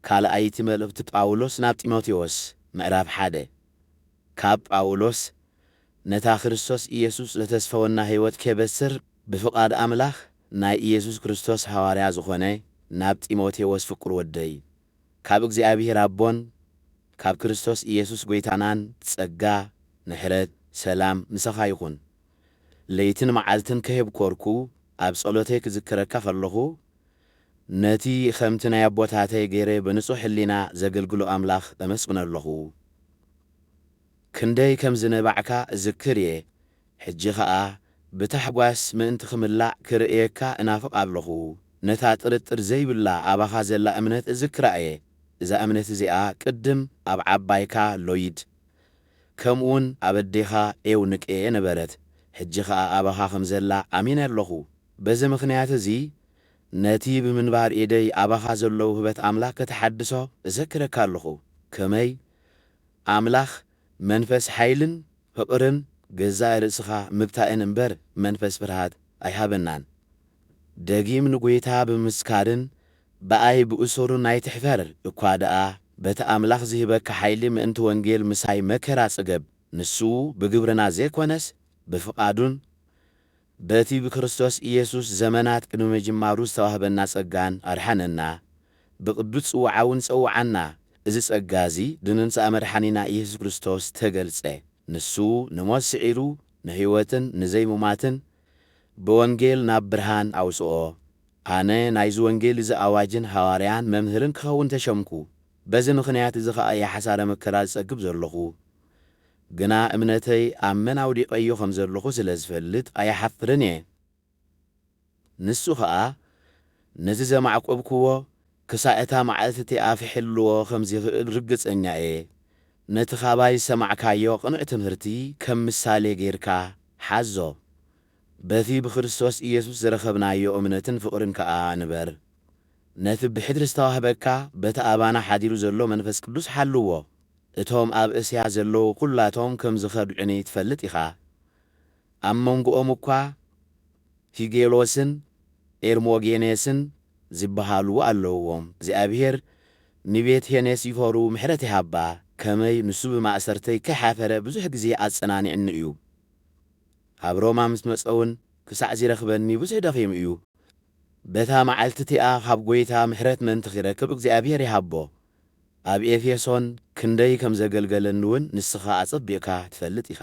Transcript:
ካልኣይቲ መልእኽቲ ጳውሎስ ናብ ጢሞቴዎስ፣ ምዕራፍ ሓደ፣ ካብ ጳውሎስ ነታ ክርስቶስ ኢየሱስ ዘተስፈወና ሕይወት ኬበስር ብፍቓድ ኣምላኽ ናይ ኢየሱስ ክርስቶስ ሃዋርያ ዝኾነ ናብ ጢሞቴዎስ ፍቁር ወደይ፣ ካብ እግዚኣብሔር ኣቦን ካብ ክርስቶስ ኢየሱስ ጐይታናን ጸጋ፣ ምሕረት፣ ሰላም ምሳኻ ይኹን። ለይትን መዓልትን ከየብኰርኩ ኣብ ጸሎተይ ክዝክረካ ኸለኹ፣ ነቲ ኸምቲ ናይ ኣቦታተይ ገይረ ብንጹሕ ሕሊና ዘገልግሎ ኣምላኽ እምስግኖ ኣሎኹ። ክንደይ ከም ዝነባዕካ እዝክር እየ፣ ሕጂ ኸኣ ብታሕጓስ ምእንቲ ኽምላእ ክርእየካ እናፍቕ ኣሎኹ። ነታ ጥርጥር ዘይብላ ኣባኻ ዘላ እምነት እዝክራ እየ፣ እዛ እምነት እዚኣ ቅድም ኣብ ዓባይካ ሎይድ፣ ከምኡውን ኣብ ኣዴኻ ኤውንቄ ነበረት፣ ሕጂ ኸኣ ኣባኻ ኸም ዘላ ኣሚነ ኣሎኹ። በዚ ምኽንያት እዚ ነቲ ብምንባር ኤደይ ኣባኻ ዘሎ ውህበት ኣምላኽ ከተሓድሶ እዘክረካ ኣሎኹ። ከመይ? ኣምላኽ መንፈስ ሓይልን ፍቕርን ገዛእ ርእስኻ ምብታእን እምበር መንፈስ ፍርሃት ኣይሃበናን። ደጊም ንጐይታ ብምምስካርን ብኣይ ብእሱሩን ኣይትሕፈር እኳ ደኣ በቲ ኣምላኽ ዚህበካ ሓይሊ ምእንቲ ወንጌል ምሳይ መከራ ጽገብ ንሱ ብግብርና ዘይኮነስ ብፍቓዱን በቲ ብክርስቶስ ኢየሱስ ዘመናት ቅድሚ ምጅማሩ ዝተዋህበና ጸጋን ኣድሓነና፣ ብቅዱስ ጽውዓውን ጸውዓና፣ እዚ ጸጋ እዚ ብመምጽኣ መድሓኒና ኢየሱስ ክርስቶስ ተገልጸ፣ ንሱ ንሞት ስዒሩ ንሕይወትን ንዘይሙማትን ብወንጌል ናብ ብርሃን ኣውጽኦ፣ ኣነ ናይዚ ወንጌል እዚ ኣዋጅን ሃዋርያን መምህርን ክኸውን ተሸምኩ፣ በዚ ምኽንያት እዚ ከኣ እየ ሓሳረ መከራ ዝጸግብ ዘሎኹ፣ ግና እምነተይ ኣብ መን ኣውዲቐዮ ከም ዘለኹ ስለ ዝፈልጥ ኣይሓፍርን እየ። ንሱ ኸኣ ነዚ ዘማዕቈብክዎ ክሳዕ እታ መዓልቲ እቲኣ ኺሕልዎ ኸም ዚኽእል ርግጸኛ እየ። ነቲ ኻባይ ዝሰማዕካዮ ቕኑዕ ትምህርቲ ኸም ምሳሌ ጌርካ ሓዞ፣ በቲ ብክርስቶስ ኢየሱስ ዝረኸብናዮ እምነትን ፍቕርን ከኣ ንበር። ነቲ ብሕድሪ ዝተዋህበካ በቲ ኣባና ሓዲሩ ዘሎ መንፈስ ቅዱስ ሓልዎ። እቶም ኣብ እስያ ዘለዉ ኩላቶም ከም ዝኸድዑኒ ትፈልጥ ኢኻ። ኣብ መንጎኦም እኳ ፊጌሎስን ኤርሞጌኔስን ዚበሃሉ ኣለዉዎም። እግዚኣብሄር ንቤት ሔኔሲፎሩ ምሕረት ይሃባ፣ ከመይ ንሱ ብማእሰርተይ ከይሓፈረ ብዙሕ ጊዜ ኣጸናኒዕኒ እዩ። ኣብ ሮማ ምስ መጸውን ክሳዕ ዚረኽበኒ ብዙሕ ደኺሙ እዩ። በታ መዓልቲ እቲኣ ኻብ ጐይታ ምሕረት ምእንቲ ኺረክብ እግዚኣብሄር ይሃቦ። ኣብ ኤፌሶን ክንደይ ከም ዘገልገለኒውን ንስኻ ኣጸቢቕካ ትፈልጥ ኢኻ።